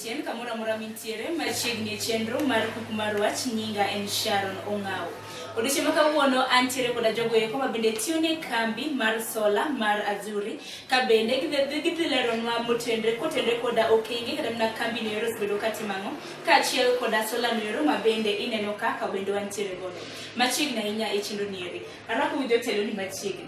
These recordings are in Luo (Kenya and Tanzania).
Tien kamoro amora mintiere machiegni e chenro mar kuk mar wach nyinga en Sharon Ong'aw. Odiochieng' ma kawuono antiere koda jogo eko ma bende tiyo ne kambi mar sola mar Azuri ka bende gidhi gidhi leronwa motenre kotenre koda okenge kata mana kambi noero osebedo ka timo ang'o kaachiel koda sola noero ma bende ineno ka ka bende wantiere godo machiegni ahinya e chenro nieri. Arwako gi jotelo ni machiegni.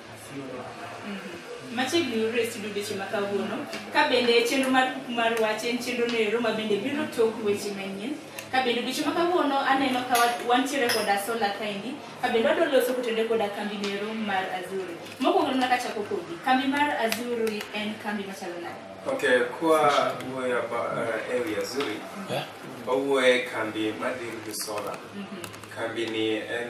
machiegni yudore e studio deche ma kawuono ka bende chenro mar kuku mar wach en chenro noero ma bende biro tok weche manyien ka bende odiechieng' ma kawuono aneno ka wa- wantiere koda sola kaendi ka bende wadwa loso kotende koda kambi noero mar azuri mokwongo nona kachako kodi kambi mar azuri en kambi machalo nade Okay, kwa wuoyo aba uh, ewi Azuri, wawuoye kambi madhi gi sola. Kambi ni en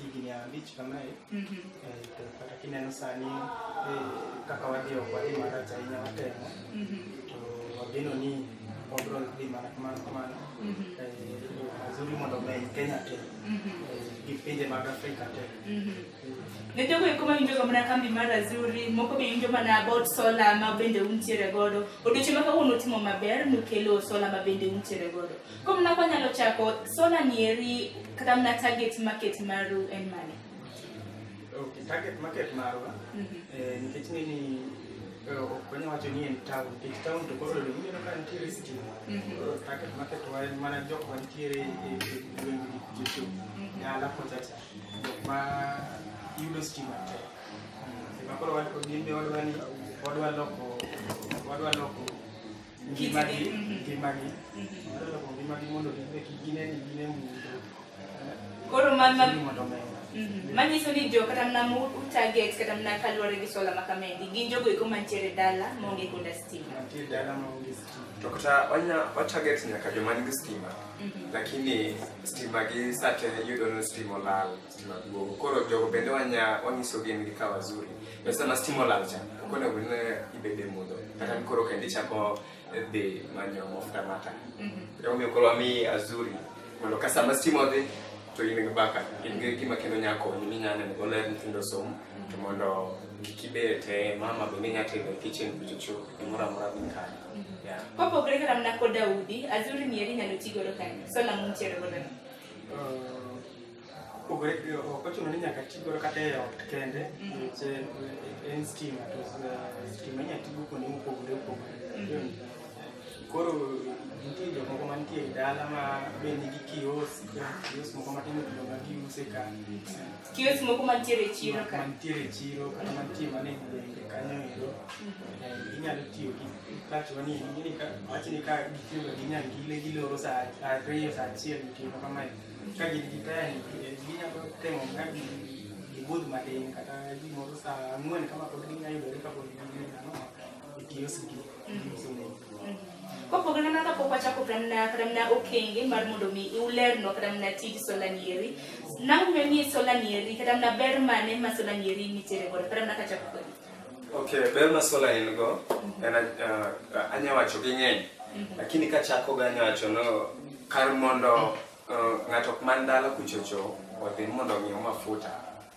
higni abich kamae Mhm. eh, to kata kineno sani eh, kaka wadhi ok wadhi marach ahinya watemo Mhm. to wageno ni wabro dhi mana kamano kamano Mhm. Eh, yo mazuri mondo omeny kenya te Mhm. eh, gi pinje mag afrika te Mhm. ne jogo eko mawinjoga mana kambi mar azuri moko be winjo mana about sola ma bende untiere godo odiochieng' ma kawuono utimo maber nukelo sola ma bende untiere godo Koro mna kwa nyalo chako solar nieri kata mna target market maru en mane? Okay, target market marwa Mhm. eh, nikech ni ni eh, ok wanya wacho ni en town nikech town to koro ineno ka nitiere stima Mhm. Koro target market wa en mana jok mantiere e e gweng' gi jocho dala kocha cha jok ma yudo stima tek Mm, ema koro wan- gin be wadwa ni wadwa loko wadwa loko ngimagi mhm. ngimagi loko ngimagi mondo gibe kik gine ni gine mudho koro mondo omenda mhm. manyiso ni jo kata mna mutarget kata mna kaluwore gi sola makamendi gin jogo eko mantiere dala maonge koda stima mantiere dala maonge stima to kata wanya watarget nyaka joma nigi stima mhm. lakini stima gi sate yudo ni stima olal maduong'. Koro jogo bende wanya wanyisogi ni ka wazuri. Be sama stima olal cha, ok onego bed ni ibede mudho. Kata ni koro kendo ichako dhi manyo mafuta mata. Kata omiyo koro wami azuri mondo ka sama stima odhi to in gi baka in gi gima kendo nya konyi minya neno go ler nyithindo som to mondo kik ibed te mama be minya tedo e kitchen kuchocho gimoro amora dhi kare. Yeah. Kopogore kata mana kod Daudi, Azuri ni eri nyalo ti godo kanye. So nang'o mutiere godo ni? Uh, Opogore eh, ok ochuno ni nyaka ti godo kata e ot kende nikech eh, en stima to eh, stima inyalo ti go kuonde mopogore opogore Yun. koro nitie jomoko mantie e dala ma be nigi kios kios moko matindo tindo ma giuse ka Kios moko mantiere e chiro ka. mantiere e chiro kata mantie mana e gwenge kanyo ero Eh, inyalo tiyo gi touch wani ing'eni ka wachni ka gitiyoga gi nyangile giloro sa ariyo sa achiel otieno kamae Ka gin gi taya ni eh, ginyalo temo ka gi- gibudh matin kata gimoro sa ang'wen kama pod ginyalo yudore kapod gin ano e kioski giuso ne kopogore gi mano pok wachako kata mana kata mana okenge mar mondo mi ulerno kata mana tij sola nieri nang'eyo ni sola nieri kata mana ber mane ma sola nieri nitiere godo kata mana kachako kodi Okay, ber ma sola en go en uh, anya wacho gi ng'eny lakini kachako ga anya wacho no kar mondo uh, ng'ato ok man dala kuchocho odhi mondo ong'iew mafuta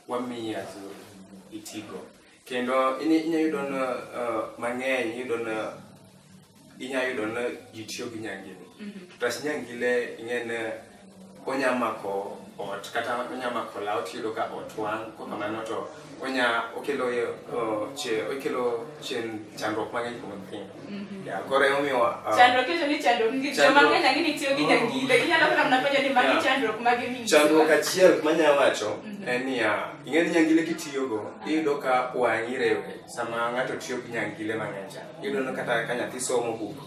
wamiyi azuri itigo kendo ini- inya yudo no uh, mang'eny iyudo no inya yudo ni ji tiyo gi nyangini tas nyangile ing'e ni onya mako ot kata onya mako law tiyudo ka ot wang' ko kamano to onya okelo yo- o, che- okelo chen chandruok mang'eny kuom nyithindo Ya, koro emomiyo ah, Chandruok ito ni chandruok ngi Chandruok. joma ng'eny ang'e ni tiyo gi nyangile. Ginyalo kata mana penjo ni magi Yeah. chandruok mage mingi. chandruok achiel manya wacho en niya ing'e ni nyangile kitiyogo iyudo ka wang'i rewni Sama ng'ato tiyo gi nyangile mang'eny cha, iyudo ni kata ka nyathi somo buk,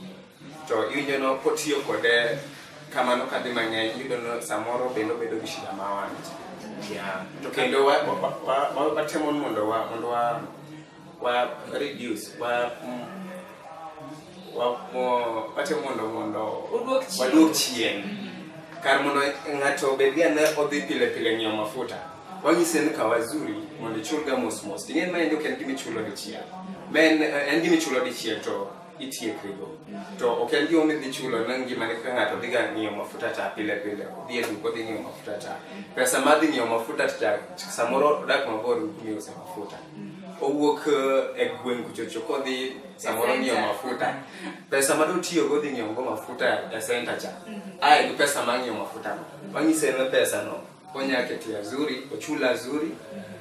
to iwinjo ni kotiyo kode kamano kadhi mang'eny, iyudo ni samoro bende obedo gi shida ma wang' cha. Yeah. To kendo wa- wa- wa- wa- wa- watemo ni mondo wa- mondo wa- wa reduce, wa- mm, wa- mo- watemo mondo mondo Oduok chien. waduok chien kar mondo ng'ato obed ga ne odhi pile pile ng'iewo mafuta wanyise ni kawa zuri mondo ichulga mos mos ting'e ma en ok en gima ichulo dichiel ma en en gima ichulo dichiel to itiekrigo to ok en gima midhi chulo na ngima ni ka ng'ato dhiga ng'iewo mafuta ta pile pile odhi e duka odhi ng'iewo mafuta ta pesa ma dhi ng'iewo mafuta ta samoro odak mabor gi kuma iuse mafuta owuok eh, e gweng' kuchocho kodhi samoro E ng'iewo center. mafuta pesa ma dotiyogo dhi ng'iewogo mafuta e senta cha ae gi pesa ma ng'iewo mafutano wanyise ne pesano onya keto ya zuri ochul azuri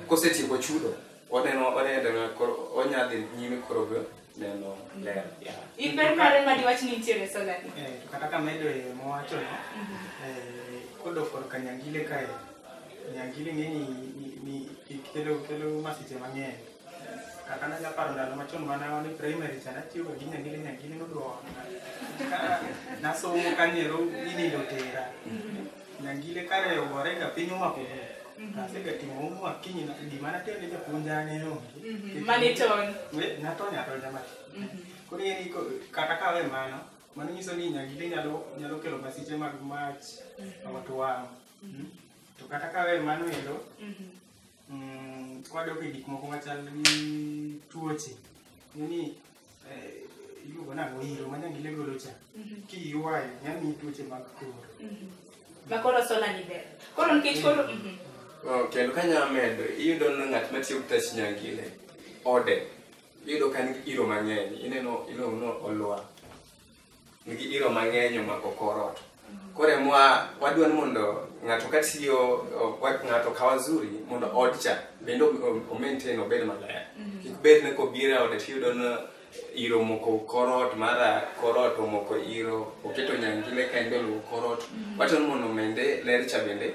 kosetieko chudo oneno oneno koro onya dhi nyime koro go neno ler yeah. in ber mare ma diwach ni nitiere e salani eh, to kata ka medo e mowacho no mhm. eh, kodo for kanyangile kae nyangile ng'eni ni kelo kelo masiche mang'eny kaka nanya paro ndalo machon mana wan primary cha natiyo gi nyangile nyangile nodwa nasomo kanyero inindo tera mhm. Nyangile kare owore ka piny omako asegatimo homework akinyi na- gima natimo ne japuonja ne onge Mhm. Mane itony? We, natony atonya mati koro ing'e ni ko- kata kawe mano mano nyiso ni nyangile nyalo nyalo kelo masiche mag mach ot wang' Mm. to kata kawe mano endo Mhm. mm, kwadok e gik moko machal gi tuoche ni eh, iluongo nang'o iro ma nyangile golo cha kiywayo nyamiyi tuoche mag kor ma koro sola ni ber koro nikech koro mhm. Oh, kendo ka nyalo medo iyudo ni ng'at matiyo gi tach nyangile ode iyudo ka en gi iro mang'eny ineno iluongo ni olwa nigi iro mang'eny omako kor ot. Koro emwa wadwa ni mondo ng'ato ka tiyo o- wa- ng'ato ka wazuri mondo ot cha bende o- o maintain obed maler. Kik bed ni kobiro e ode tiyudo ni iro omoko kor ot mara kor ot omoko iro oketo nyangile ka en be oluwo kor ot. Wacho ni mondo omende ler cha bende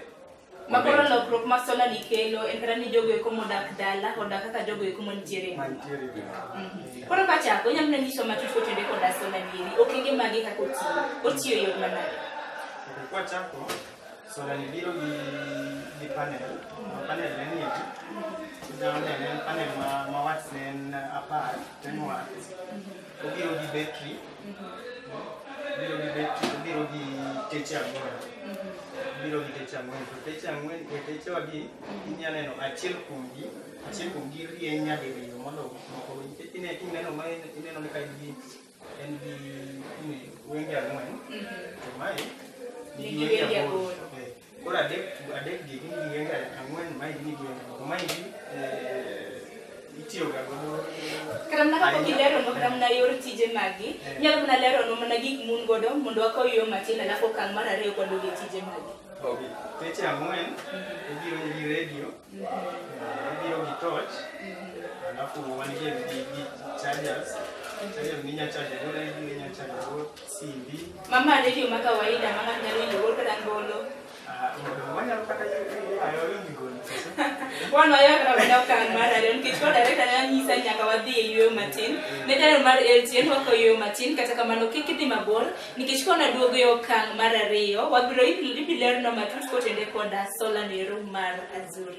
Ma koro lokruok ma sola ni kelo en kata ni jogo eko modak dala odak kaka jogo eko mantiere e boma. Mhm. Koro kachako, inyalo mana nyiso matut kotenore koda sola ni endi, okenge mage kaka otiyo, otiyo e yo manade? Okay, kwachako sola ni biro gi gi panel ma panel ne ni endi inyalo neno en panel ma ma watts ne en apar ten watts obiro gi betri obiro gi betri obiro gi teche ang'wen obiro gi teche ang'wen to teche ang'wen e techewagi inya neno achiel kuomgi achiel kuomgi rieny nyadiriyo mondo moko nikech ine- ineno ma in- ineno ni ka en gi en gi ni wenge ang'wen to mae Nigi wenge aboro. Eh, Koro adek adek gi gin gi yenga ang'wen ma gin gi yenga moko ma gin itiyo ga godo kata mana kapok Ahinya. ileronwa kata mana yor tije magi Eh. nyalo mana leronwa mana gik mun godo mondo wakaw yo matin alafu okang' mar ariyo kwadog e tije magi ogi teche ang'wen ibiro gi redio eh, ibiro gi torch alafu wan gi gi gi chargers chargers minya charge go redio inya charge go Simbi. Mama ade yo ma kawaida ma ng'ato nyalo winjo gol kata ngolo. Ah, mondo wanyalo kata ayo winj gol. Wan wayo kata wenda okang' mar ariyo nikech koro director ne anyisa ni nyaka wadhi e yueyo matin. Ne daro mar LTN wakawo yueyo matin kata kamano kik idhi mabor nikech koro naduogo e okang' mar ariyo wabiro ibiro lernwa matut kotende koda sola no ero mar Azuri.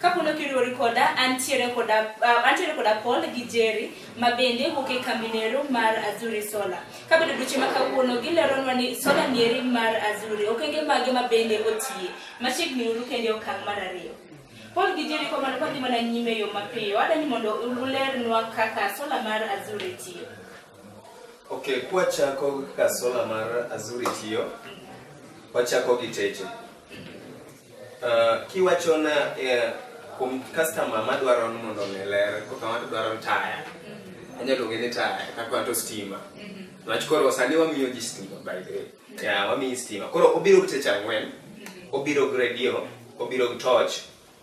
Kapolo kiriwori koda, antiere koda, uh, antiere koda Paul gi Jerry ma bende wuok e kambi nero mar Azuri Solar. Kabedo duche ma kawuono gileronwa ni solar nieri mar Azuri, okenge mage ma bende otiye. Machiegni uru kende okang' mar ariyo. Paul gi Jerry kwa mano kwadhi mana nyime e yo mapiyo, adani mondo ulernwa kaka solar mar Azuri tiyo. Okay, kwachako kaka solar mar Azuri tiyo, wachako gi teche. Uh, kiwachona eh, kuom customer madwaro ni mondo mi ler kaka ng'ato dwaro ni taya anyalo luonge ni taya kaka ng'ato stima niwach koro sani wamiyo ji stima by the way yeah, wamiyi stima koro obiro gi teche ang'wen obiro gi radio obiro gi torch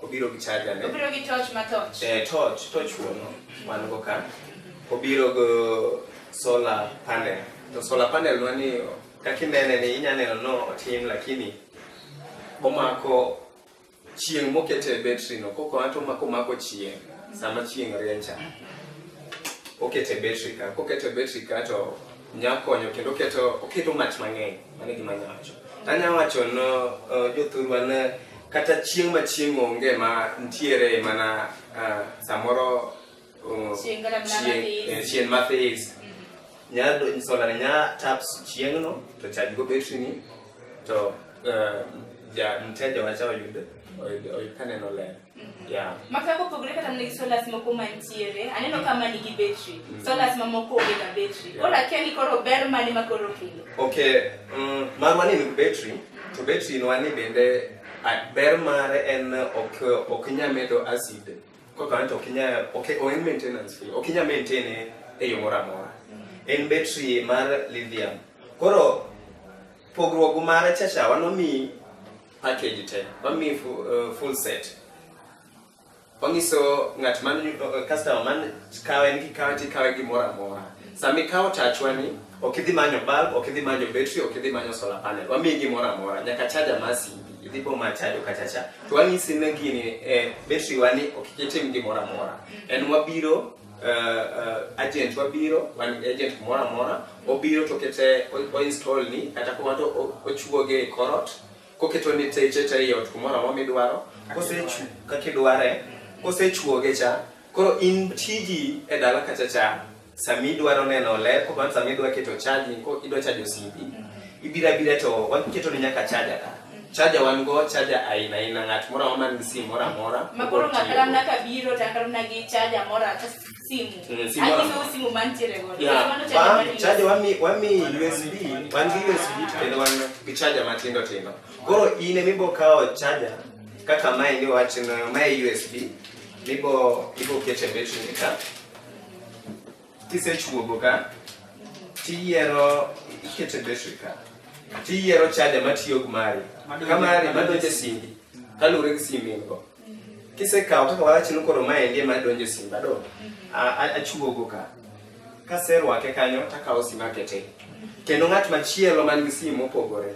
obiro gi charger ne Obiro gi torch ma torch. eh, torch torch wuono wan go ka obiro go solar panel to solar panel wani kaka inene ni inya neno no otim lakini omako chieng' mokete e betri no koko ato omako omako chieng' sama chieng' riencha okete betri ka kokete betri ka to nya konyo kendo oketo oketo mach mang'eny mano e gima nya wacho tanya wacho no uh, jothurwa ne kata chieng' ma chieng' onge ma ntiere mana uh, samoro Oh, Chieng' kata mana chieng- mathis. eh, chieng' mathis nya do- solar nya tap chieng' no to charge go battery ni to eh, ja mteja wacha oyud oyud oyud kaneno ler yeah Maka kopogore kata mana gi solas moko mantiere, aneno ka ma nigi betri. Solas mamoko onge ga betri. Yeah. Koro akia ni koro ber mane ma koro kelo. Okay, mm, marwa ni nigi battery, to battery nwa ni bende a- ber mare en ok ok nya medo acid Koro current ok inya ok ok en maintenance free. Ok inya maintain e- e yo moro amora. En battery mar lithium. Koro pogruok mare cha cha wano mi package te. Wami fu- eh, full set. Wanyiso ng'at man eh, customer man kawe ni kikawe tikawe gimoro amora. Sami kawo tachwani Ok idhi manyo bulb, ok idhi manyo battery, ok idhi manyo solar panel. Wamiyi gimoro amora, nyaka charger mar simbi. Idhi bo ma chajo kacha cha. To wanyisi ne gini eh, battery wani ok itim gimoro amora. En wabiro uh, uh, agent wabiro wan gi agent kumoro amora obiro to kete o- oinstall ni kata kuma to o- ochuoge e korot koketo ni teche te ei ot kumoro amora midwaro kosechu kaka idware kosechuoge cha koro in tiji e dala kacha cha Sami dwaro neno ler, kwa mfano sami dwa keto chaji, ko idwa chajo simbi, ibira bira to waketo ni nyaka chaja ka. Chaja wan go, chaja aina aina ng'at moro man gi simu moro amora. Ma koro ng'ato ka ng'ato biro to akaro na gi chaja moro ata simu. Mm, simu moro Anyiso amora. simu mantiere godo. Yeah, Mano chaja wan- mar chaja wami wami USB, wan gi USB to kendo wan gi chaja matindo tindo. Koro in ema ibo kawo chaja kaka mae ni wachno mae USB mibo ibo kete betri ni ka kisechuogo ka tiyiero ikete betri ka tiyiero chaja matiyo gi mari ka mari madonjo e simbi kaluwore gi simbi in go kisekawo kaka wawachi ni koro maendi ema donjo e simba do a- a- achuogo ka kaserwake kanyo takawo sima akete kendo ng'at machielo man gi sim mopogore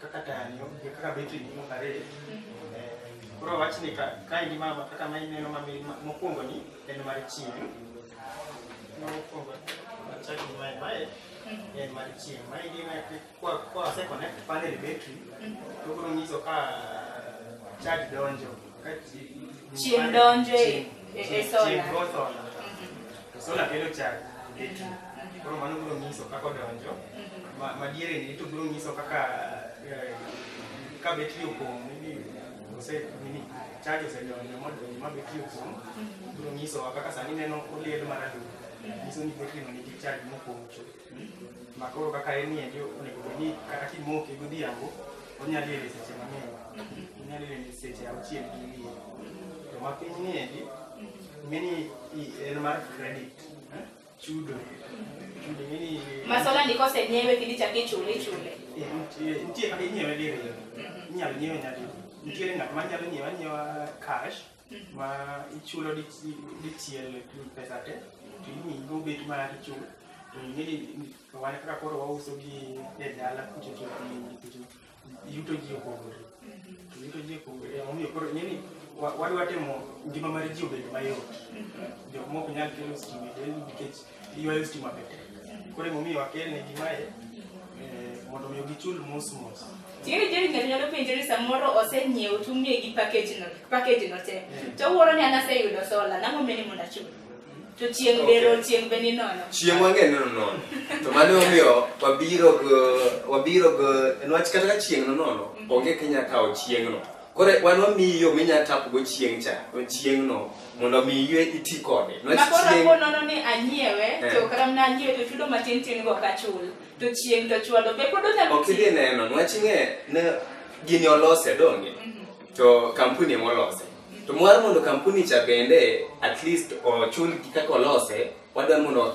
kaka tanyo gi kaka betri gi moko ariyo Eh, koro wach ni ka ka in mama kaka ma ineno ma mi- ma- mokwongo ni en mar chieng' ma mokwongo achak gi mae mae en mar chieng' ma in ine kwa kwa se connect panel battery to biro nyiso ka charge donjo Chieng' donjo e- e- e sola. Chieng' go sola. To sola kelo chak e pi. Koro mano biro nyiso kaka odonjo. Ma- Madiere ni to biro nyiso kaka eh, ka betri opong' maybe ose nini chaji osedonjo modonjo ma betri opong' biro nyisowa kaka sani neno oliel maralum. Nyiso ni betri no nigi chaji mopong' chuth. ma koro kaka en niendi onego bed ni kata kimoke godhiambo onyalo yele seche mang'eny onyalo yele seche auchiel gi wiye to ma piny niendi ng'eni i- en mar credit eh, chudo chudo ng'eni Masola ni kosenyiewe kidhi chak ichule ichule. eh, nitie nitie kaka inyiewe diriyo inyalo nyiewe nyadi nitiere ng'at ma nyalo nyiewe anyiewa cash ma ichulo dichiel pesa te to imiyi gobet ma ichulo to ing'e ni wan kaka koro wauso gi e dala kucho to yuto ji opogore to yuto ji opogore omiyo koro ing'e ni wadwa timo ngima mar ji obed mayot jok mok nyal kelo stima nikech Ywayo stima be tek. Koro emomiyo wakel ne gi mae eh, mondo omiyo gichul mos mos. Tiyo jeri ng'ato nyalo penjo ni samoro oseng'iewo to umiye gi package no, package no te. To wuoro ni an aseyudo sola, nang'o omiyo ni mondo achul? To chieng' Okay. bero, chieng' be ni nono. chieng' wang'e nono nono to mano omiyo wabiro go wabiro go nwach kata ka chieng' no nono onge kinya kawo chieng'no Koro wan wamiyi yo minya tapgo chieng' cha, chieng'no mondo mi yue iti kode. Niwach Makoro chieng'- apo nono ni anyiewe, Eh. to karam na anyiewe to chudo matin tin go kachul. To chieng' to chwalo be pod onyalo ok idhi neno niwach ing'e ne gini olose donge to kampuni ema olose to mwar mondo kampuni cha bende at least ochul gi kaka olose wadwa mondo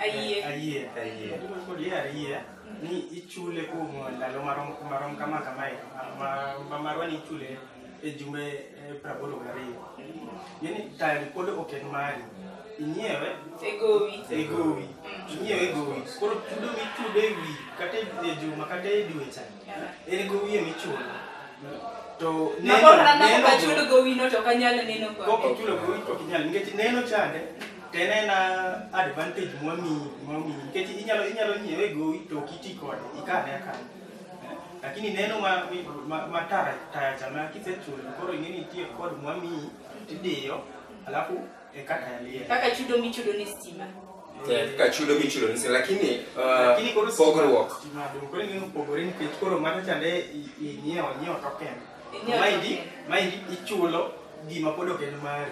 Ayie. Ayie. Ayie. Adwaro kod yie ayie ni ichule kuom ndalo marom marom kama kamae ma- ma- marwa ni ichule e jumbe eh, prabolo gariyo yani tayari pod ok en mari inyiewe E gowi. e gowi inyiewe e gowi koro chudo michudo e wi kata e juma kata e dwe cha en gowi ema ichulo to Mabor neno- nana neno- kaka chudo gowino to kanyal neno kode. Kok ichulo gowi to ok inyal nikech neno chande To en en advantage mwamiyi mwamiyi nikech inyalo inyalo nyiewe gowi to ok iti kode ikane akana. Eh, Lakini neno ma ma, ma tara taya chama kisechulo koro ing'eni itiyo kod mwamiyi tidiyo alafu eka taya liel. Kaka chudo michudo ni stima. Eh, kaka chudo michulo ni stima lakini uh, Lakini koro stima- pogruok stima dong' koro ing'eni opogore nikech koro mano chande i- ing'iewo nyiewo token. Maindi, maindi ichulo gima pod ok en mari.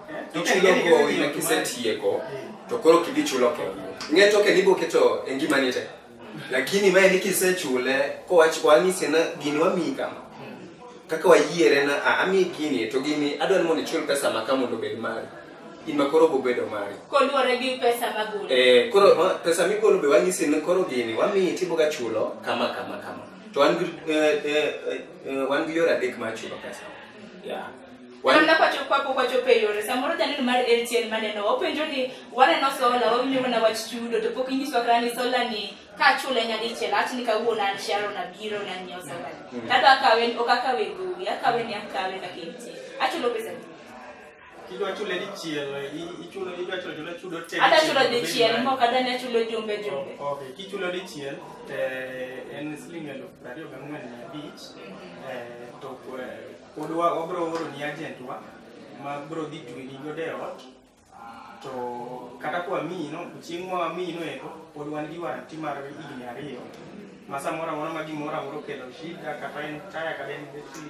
Eh? Ichulo Ing'eni gowi gima na ok mari. kisetieko to koro kidhi chulo kendo. Ng'e to kendo ibiro keto e ngimani te. Lakini mae ni kisechule kowach wanyisi na gini wamiyi kama. Kaka wayiere na a ami gini to gini adwa ni mondo ichul pesa ma ka mondo obed mari. In ma koro bobedo mari. Koluwore gi pesa magolo. Eh, koro ma- pesa migolo be wanyisi ni koro gini wamiyi tiboga chulo kama kama kama. to wan gi eh, eh, eh, eh, wan gi yore adek mar chulo pesa yeah. Wan- Kamna kwacho kwapo kwacho pe yore samoro janeno mar LTN maneno openjo ni waneno sola wawinjo mana wach chudo to pok inyiswa kata ni sola ni ka chule nyadichiel awach ni kawuono an Sharon abiro na nyiewo sola ni. Kata akawe ok akawe gowi akawe ni akawe kaka entie. Achulo pesa ni. Idwa chule dichiel, i- ichulo idwa chulo chulo chudo te. Ada chulo dichiel, dichiel, obed moko ada nya chulo jumbe mari. jumbe. O- Okay, kichulo dichiel te en siling eluf prariyo gang'wen mia abich eh, to eh, pod wa- wabro oro ni agentwa ma bro dhi tweni godo e ot to kata kwa miyi no chieng' ma wamiyi no eko pod wan gi waranti mar higni ariyo ma samoro amora ma gimoro amora okelo shida kata en taya kata en betri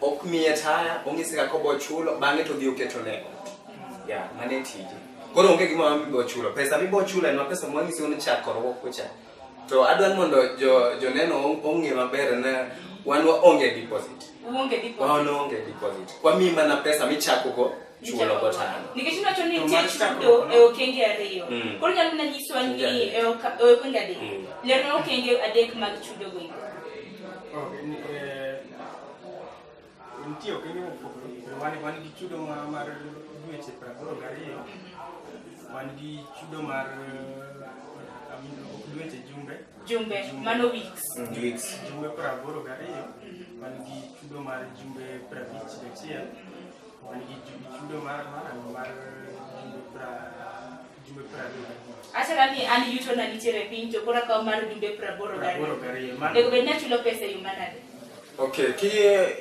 ok miye taya ong'ise kaka obo chulo bang'e to odhi oketo ne ot ya mane tije koro onge gima ma mibo chulo pesa mibo chulo en ma pesa mwang'ise un chak korwok kucha to adwa ni mondo jo- joneno ong- ong'e maber ne wan waonge deposit Uonge deposit. waonge deposit wamiyi mana pesa michakogo chulo gotano nikech iwacho ni nitie chudo e okenge ariyo Mm. koro nyalo na nyiswa ni Chudo adek. e oka- e okenge adek Mm. lerna okenge adek mag chudo go iko Ok, ni- eh, nitie okenge mopogore opogore. Wan- wan gi chudo ma- mar dweche praboro gariyo wan gi chudo mar eh, I mean, ok dweche jumbe jumbe mano weeks weeks jumbe praboro gariyo wan gi chudo mar jumbe prabich gachiel achara ni an yuto na nitiere e piny to koro akawo mar jumbe praboro gariyo onego bed ni achulo pesa e yo manade okay ki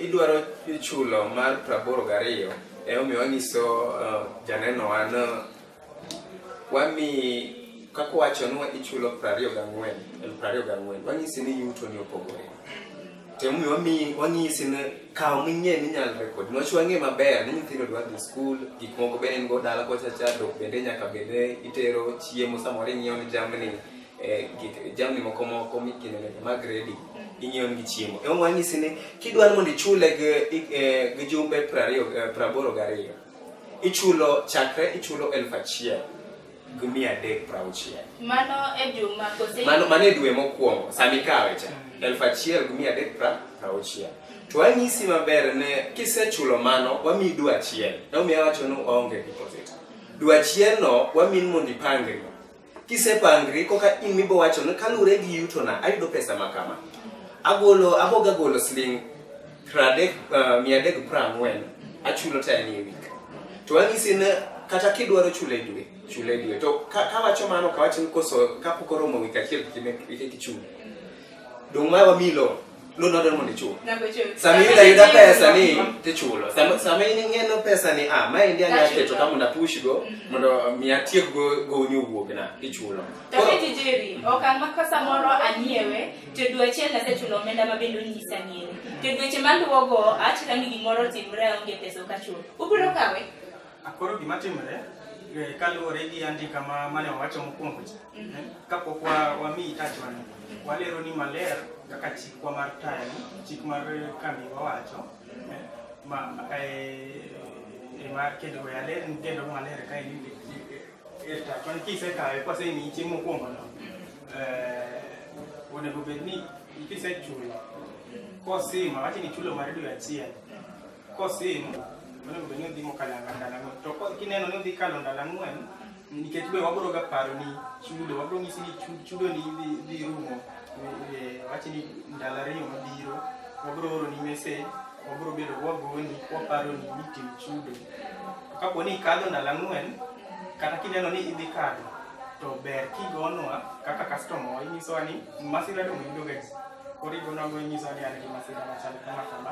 idwaro chulo mar praboro gariyo emomiyo wanyiso uh, janeno an wamiyi kaka wacho ni ichulo prariyo gang'wen elfu prariyo gang'wen wanyisi ni yuto ni opogore temomiyo wamiyi wanyisi ni kaw ming'e ni inyalo rekod niwach wang'e maber ni nyithindo dwa dhi skul gik moko bende in go dala kocha cha dok bende nyaka bende itero chiemo samoro ing'iewo ni jamni eh, gik- jamni moko moko mikino nyaka mag redi ing'iewo nigi chiemo ema wanyisi ni kidwaro mondo ichule gi- i- eh, gi jumbe prariyo eh, praboro gariyo ichulo chakre ichulo elfu achiel gi mia adek prauchiel mano e juma kose mano mano e dwe mokwongo sama ikawe cha elfu achiel gi mia adek pra- prauchiel to anyisi maber ne kisechulo mano wamiyi dwe achiel naumiya wacho ni waonge deposit dwe achielno wamin mondo ipangri Kisepangri koka in mibo wacho ni kalure gi yuto na ayudo pesa makama. Agolo aboga golo siling pradek uh, mia dek prangwen achulo ta ni week. To angisi ne kata kidwaro chule dwe chule dwe to ka, ka wacho mano ka wacho ni koso kapok oromo week achiel kime kike kichulo. Dong ma wamilo Lu nodo mondo ichul. Nago chulo. Sama iyudo ayuda pesa ni tichulo. Sama sama in ing'eno pesa ni ah ma endi anya Achulo. keto ka mondo apush go mondo mi atiek go go ni wuok na ichulo. To Koro- kiti jeri, okang' ma ka samoro anyiewe, to dwe achiel nasechulo omenda ma bende onyisa ng'iewe. To dweche maluwogo, achika ni gimoro otimre aonge pesa ok achulo. Ubiro kawe? Koro gima timore eh, kaluwore gi andika ma mane wawacho mokwongo cha eh, kapok wa- wamiyi tachwani walero ni maler kaka chikwa mar tayani chik mar kambi wawacho eh, ma eh, eh, ma kendo we aler ni kendo maler ka en ni eh, tachwani kisekawe kwasemiyi chieng' mokwongono eh, onego bed ni kisechulo kosima wache ni chulo mar dwe achiel Kosin, onego bed ni odhi mokalo ang'wen ndalo ang'wen. To ko- kineno ni odhi kalo ndalo ang'wen, nikech be wabiro ga paro ni chudo, wabiro nyisi ni chu- chudo ni dhi dhi rumo e- e- wachi ni ndalo ariyo mabiro, wabiro oro ni message, wabiro bedo wagoni, waparo ni nitim chudo. Kapo ni ikadho ndalo ang'wen, kata kineno ni idhi kadho, to ber kigonwa kaka customer wa inyisowa ni masira dong' yudoga ji. Koro igonwa go inyisowa ni an gi masira machal kama kama.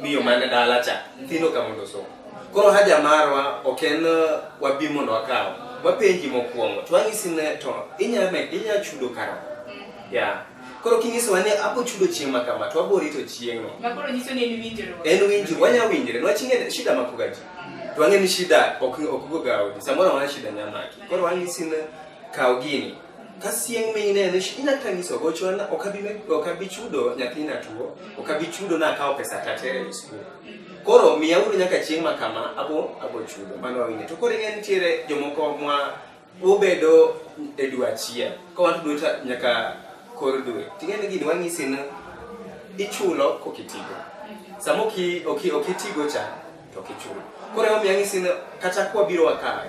miyo mane dala cha nyithindo ka mondo som koro haja marwa ok en uh, wabi mondo wakaw wapenji mokwongo to wanyisi ne to inya me- inya chudo kara ya koro kinyisowa ni abo chudo chieng' ma kama to wabo rito chieng'no Ma koro nyiso ni en winjruok. en winji wanya winjre niwach ing'e shida makoga ji to wang'e ni shida ok ok goga odi samoro amora shida nyamaki koro wanyisi ne kaw gini ka sieng minene inya kata nyiso gochwa na ok abi me- ok abi chudo nyathina tuo ok abi chudo na akawo pesa tatere e skul koro miya uru nyaka chieng' ma kama abo abo chudo mano wawinje to koro ing'e nitiere jomoko mwa ubedo e dwe achiel ka wan dwe ta- nyaka kor dwe ting'e ni gini wang'isi ni ichulo kokitigo sama oki- oki- okitigo cha to ok ichul koro emomiyo ang'isi ni kata kwa biro wakawe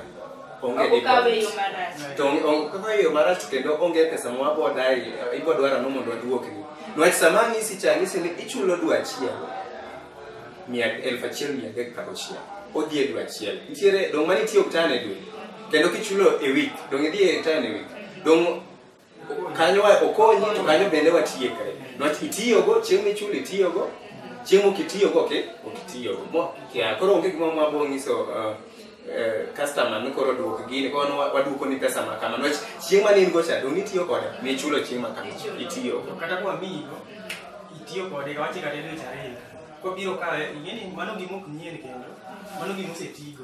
onge Ok okawe deposit. yo marach. to onge- onge- kaka yo marach to kendo onge pesa ma wabodae ibo dwara no mondo waduokni nwach sama ang'isi cha ang'isi ni ichulo dwe achiel mia- elfu achiel mia adek kata ochiel odhi e dwe achiel nitiere dong' mane itiyo oktan e dwe kendo kichulo e wik dong' idhi e tan e wik dong' kanyo wa- okonyi to kanyo bende watiekre niwach itiyogo chieng' michulo itiyogo chieng' ok itiyogo ok ok itiyogo Mo- kia- koro onge gima mwabo nyiso uh, eh, customer ni koro duok gini koro wan wa- waduoko ni pesa ma kama niwach chieng' mane in go cha dong nitiyo kode michulo chieng' ma kama itiyogo kata kwa migo itiyo kode kawache kata dwe chariyo kobiro kawe ing'eni mano gima ok nyien kendo mano gima osetigo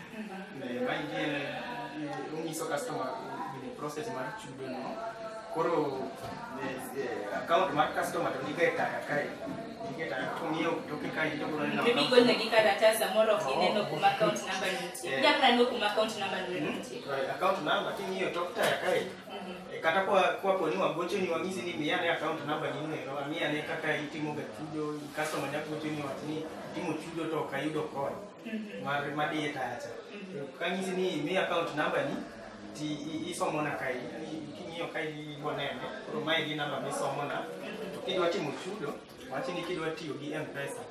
Onyiso customer in process mar chudo no. Koro account mar customer to nige taya kae. Nige taya kong'iewo toke kae to koro neno. Maybe go na gikaratas samoro ok ineno kuma account number nitie. Yeah. Japna no kuma account number nitie. Account number king'iyo tok taya kae. Kata kwa kwa poni wagocho ni wang'isi ni miya ne account number ni neno. Amiya ne kaka itimo ga chudo, customer nyagocho ni wach ni timo chudo to ok ayudo kony. mar madiye tacha To kanyisi ni mi account number ni ti i- isomo na kai i- king'iyo kai ibo neno koro mae gi namba misomo na to kidwa timo chudo wachi ni kidwa tiyo gi mpesa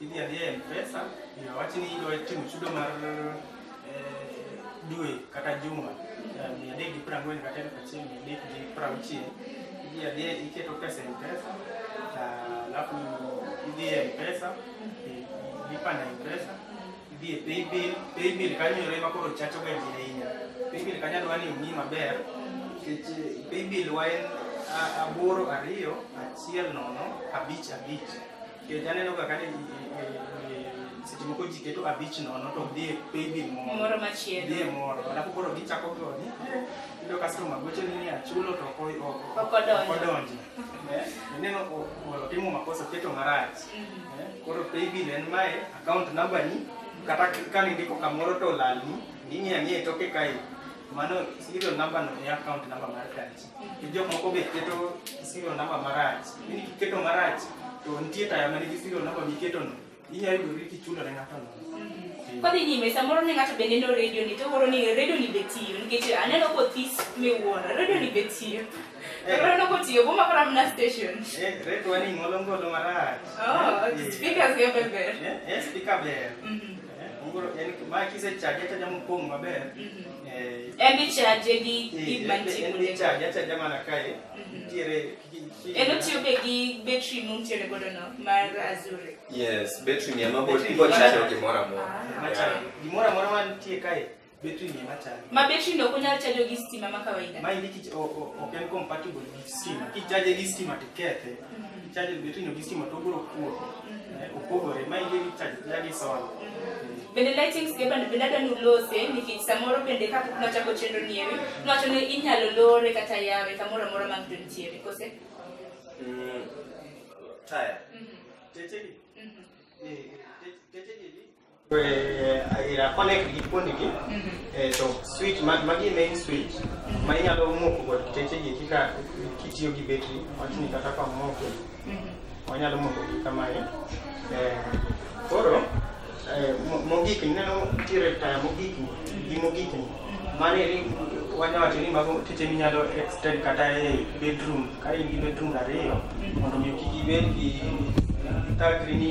idhi adhiya e mpesa iyo wachi ni idwa timo chudo mar eh, dwe kata juma eh, mia adek gi piero ang'wen kata elfu achiel mia adek gi piero auchiel idhi adhiya iketo pesa e mpesa alafu idhi e mpesa lipa na mpesa idhi e paybill paybill kanyo yore ma koro chacho ga ji ahinya paybill kanyo adwa ni ong'i maber nikech eh, paybill wa en a- aboro ariyo achiel nono abich abich nikech aneno ga kani seche moko ji keto abich nono to dhi e paybill moro Moro machielo. dhi e moro alafu koro gichako goni iyudo customer gocho ni ni achulo to ok o- o- Ok odonjo. ok odonjo Eh, ineno ko- ko- timo makosa keto marach Eh, koro paybill en mae account number ni kata k- kane ndiko kamoro to olalni ing'e ang'e toke kae mano serial number no e account number mar tachi to jok moko be keto serial number marach ni kiketo marach to nitie taya manigi serial number miketo no Inyalo yudori kichulo ne ng'ato nono. Kodhi nyime samoro ne ng'ato be neno redio ni to koro ni redio ni be tiyo nikech aneno kothis miwuoro redio ni be tiyo. Eh. Koro aneno kotiyo boma kora mna station. Eh, redio ni ngolo ngolo marach. Oh, Eh, speakers ge be ber. Eh, eh, speaker ber. Mhm, Eh, ngolo en ma kisechaje achaja mopong' maber. mhm. Eh, En bi chaje gi eh, gik en- mantie en kuonde. ichaje achaja mana kae. En otiyo be gi betri muntiere godo no mar azure. Yes, betri ni ema bot ibo chajo gimoro amora. Ah. Gimoro amora mantie kae betri ni ema chajo. Ma betri no kunyal chajo gi stima ma kawaida. Ma indiki ok en compatible gi stima. Kichaje gi stima tikethe. Mm-hmm. Charges between Augustine Matogoro Kuo, eh, opogore. Ma yieri charges lagi sola. Bende lighting skeba bende adwa ni ulose nikech samoro bende kapok nwachako chenro ni ewi nwacho ni inyalo lore kata yawe kamoro amora ma ng'to nitiere kose Mm, Taya. Mhm, Tetegi. mhm. Eh, te- Tetegi. connect gi fundi gi to switch magi main switch ma inyalo moko kod kiteche gi kika kitiyo gi betri wachni kata ka moko wanyalo moko gi kamae koro mogik neno tire taya mogik gi mogik mane wanya wacho ni mago teche minyalo extend kata e bedroom ka in gi bedroom ariyo mondo mi kik ibed gi thagri ni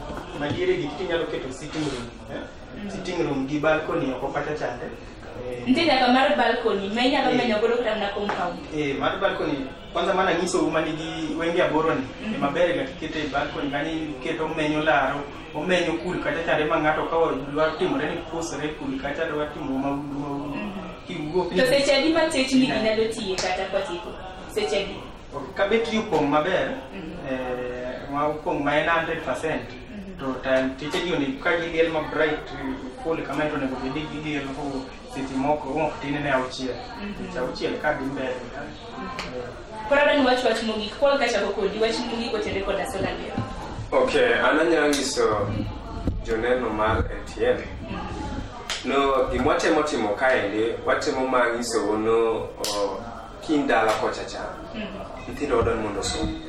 madiere gi to inyalo keto sitting room eh? sitting room gi balcony oko kacha chande Eh, Nitie nyaka mar balcony ma inyalo Eh. menyo godo kata mana compound. eh, mar balcony kwanza mana nyisou ma nigi wenge aboro ni Mhm. maber ga kikete e balcony kanyo iketo omenyo laro omenyo kul kacha chande ma ng'ato ka dwaro timore ni pusre kul kacha dwaro timo maudu maudu Mhm. kiwuok To seche adi ma techni gi nyalo tiye kata kwatieko? Seche adi? Kabet ni opong' maber, eh, ma opong' ma en 100%, to time teacher ji onego ka giliel ma bright full kama to onego bed ni giliel for seche moko ok tin ne auchiel. Seche auchiel ka dhi mbele. Eh, Koro adwani wach wach mogik. Paul kachako kodi wach mogik otende koda sola leo. Okay, an anyalo nyiso joneno mar ATM no gima watemo timo kaendi watemo ma nyisou no o, Kiny dala kocha cha, nyithindo wadwa ni mondo osom.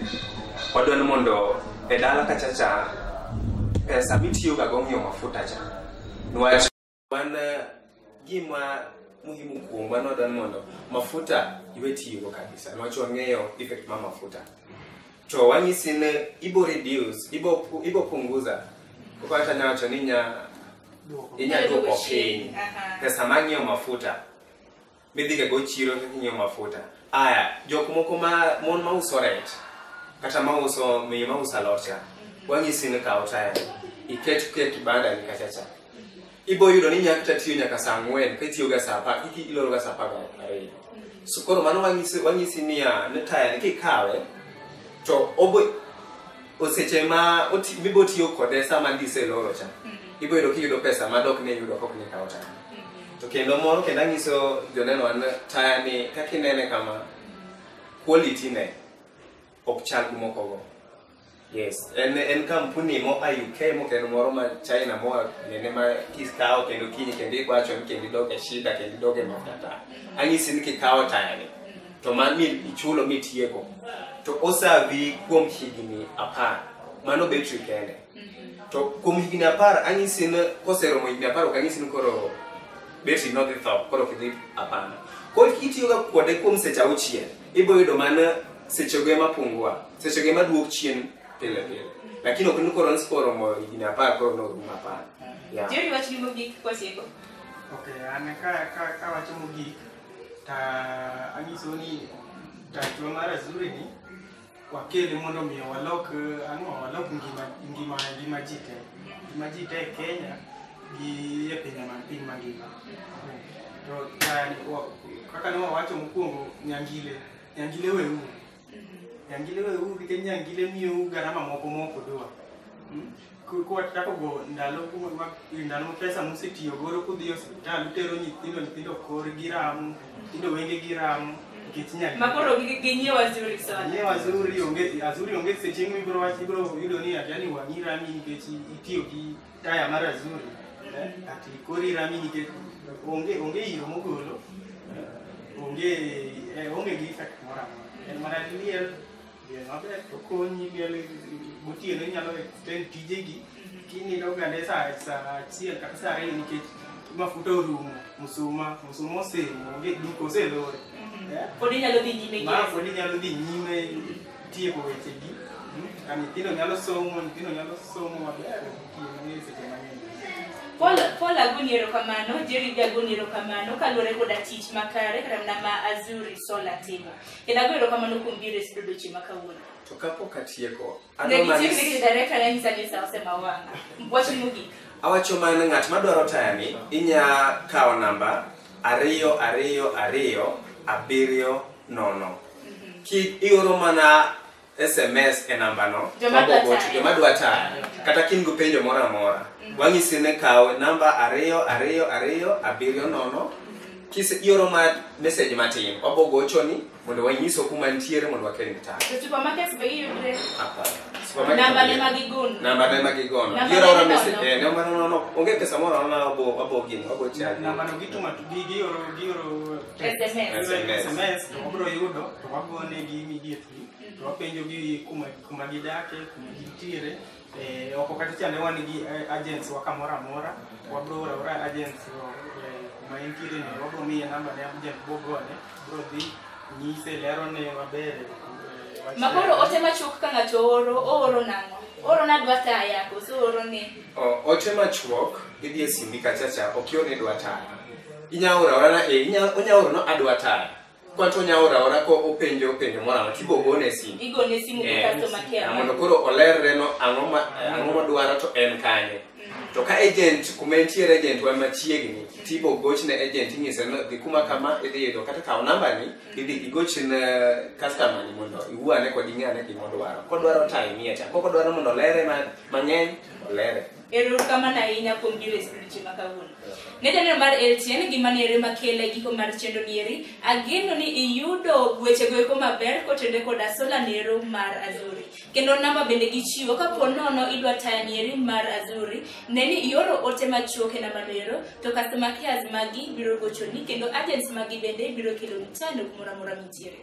Wadwa ni mondo e dala kacha cha, pesa mitiyoga go ng'iewo mafuta cha. Niwach wan eh, gima muhimu kuomwa ni wadwa ni mondo mafuta iwe tiyogo kabisa. Niwach wang'eyo effect ma mafuta. To wanyisi ni ibo reduce, ibo, pu- ibo punguza. Koko hata nyawacho ni nya, inya duoko piny. Aha. Pesa mang'iewo mafuta. midhiga go chiro kaka inyiew mafuta aya jok moko ma mon ma uso rech kata ma uso miyo ma uso alot cha wanyisi ni kaw taya iket ke kibanda ni kacha cha ibo yudo ni nyaka tatiyo nyaka saa ang'wen kitiyo ga saa apar kiki iloro ga saa apar ga ariyo so koro mano wanyisi wanyisi niya ni taya ni kikawe to obo oseche ma oti- mibo tiyo kode sama dise loro cha ibo yudo kiyudo pesa ma dok ne yudo kok ne kawo taya to kendo moro kendo anyiso joneno an taya ni kaka inene kama quality ne ok chal gi moko go yes en en kampuni mo a UK mo kendo moro ma China mo a- nene ma kikawo kendo kinyi kendo ikwacho ni kendo idoge shida kendo idoge mafuta anyisi ni kikawo taya ni to ma mi ichulo mitieko to osavi kuom higni apar mano betri kende to kuom higni apar anyisi ni koseromo higni apar ok anyisi ni koro betri nodhi tho koro kidhi apana koro kitiyoga kode kuom seche auchiel ibiro yudo mana sechego ema pungua sechego ema duok chien pile pile lakini ok ni koro nsi koromo higni apar koro norum apar yeah. Jerry, wachni mogik kwasieko. Okay, an ka ka ka wacho mogik ta anyiso ni tachwa mar azuri ni wakele mondo omiyo walok eh, ang'o walok ngima ngima ngima ji te ngima ji te e kenya gi e pinye man piny mangima to ta- wa- kaka ne wawacho mokwongo nyangile nyangile weuru Nyangile weuru nikech nyangile miyou garama moko mok udwa. Mm? Ku- Kuwachakogo ndalo ku- ma- ndalo ma pesa musetiyo godo kudhi e osiptal utero nyithindo nyithindo korgi ramo nyithindo wengegi ramo nikech nyangile. Makoro gi- ginyiew azuri sana. Nye wazuri onge azuri onge seche mibro wach ibro yudo ni ati yani wang'i rami nikech itiyo gi taya mar azuri eh, ati kori rami nikech onge onge iro mogolo eh, onge eh, onge gi effect moro amora en mana liel liel maber to konyi liel gotieno inyalo extend tijegi kinindo gande sa sa achiel kata sa ariyo nikech mafuta orumo musuma musuma osemo onge duka oselore eh, Pod inyalo dhi nyime gi ma pod inyalo dhi nyime tieko wechegi mm, a nyithindo nyalo somo nyithindo nyalo somo maber tiyo mang'eny seche mang'eny Paul, Paul agoni erokamano, Jerry be agoni erokamano kaluwore koda tich makare kata mana ma Azuri Sola timo. Kendo ago erokamano kuom biro e studio odiechieng' ma kawuono. to kapok atieko Ne adwa mana gichiegni gi director ne nyisa ni sa osemawanga. Wach mogik. awacho mana ng'at madwaro tayani inya kawo namba ariyo ariyo ariyo abiriyo nono ki ioro mana sms e namba no Joma dwa Wabogo- tayo. joma dwa tayo kata ka in gi penjo moro amora wang'isi ni kaw namba ariyo ariyo ariyo abiriyo nono kise ioro ma message matin wabogochoni mondo wanyiso kuma nitiere mondo wakelni tayo To supermarkets be giyudre. Hapana. Supermarket Namba onge. ne ma gigono. namba ne magigono Namba ioro ne ora message nono. eh namba nono onge pesa moro amora wabo wabo gini wabo chaji Nambano gituma gi- gioro gioro SMS. SMS. sms to wabiro yudo to wagonegi immediately to wapenjogi kuma kuma gidake kuma gintiere Eh, oko kata chande wan gi eh, agents wa kamoro amora wabiro oro aora agents eh, kuma entiere ni wabiro miye namba ne agent bogone biro dhi nyise lerone maber eh, wach- Makoro ote machuok ka ng'ato ooro, ooro nang'o? Ooro nadwa taya, koso ooro ni. O- Ote machuok, idhi e simbi kachacha, ok ior ni dwa taya. inya ora ora na e inya onya ora no adwa taya kwato onya ora ora ko openjo openjo mora ma kibo gone simu igone simu e customer care na mondo koro olerre no ang'o ma ang'o ma dwaro to en kanye mhm. to ka agent kuma entiere agent wa machiegni tibo goch ne agent ing'ise no dhi kuma kama idhi yudo kata kawo namba ni mhm. idhi igoch ne customer ni mondo iwuane kod ing'ane gima odwaro kodwaro time mia cha koko dwaro mondo olere mang'eny olere Erokamano ahinya kuom biro e skul chieng' ma kawuono. Ne janeno mar LTN gima ne ere makele giko mar chendo nieri, ageno ni iyudo wechego eko maber kotende koda sola nero mar Azuri. Kendo namba bende gichiwo kapo nono idwa taya nieri mar Azuri, ne ni ioro ote machuok e namba nero, to customer cares magi biro gochoni kendo agents magi bende biro keloni taya no kumoro amora mintiere.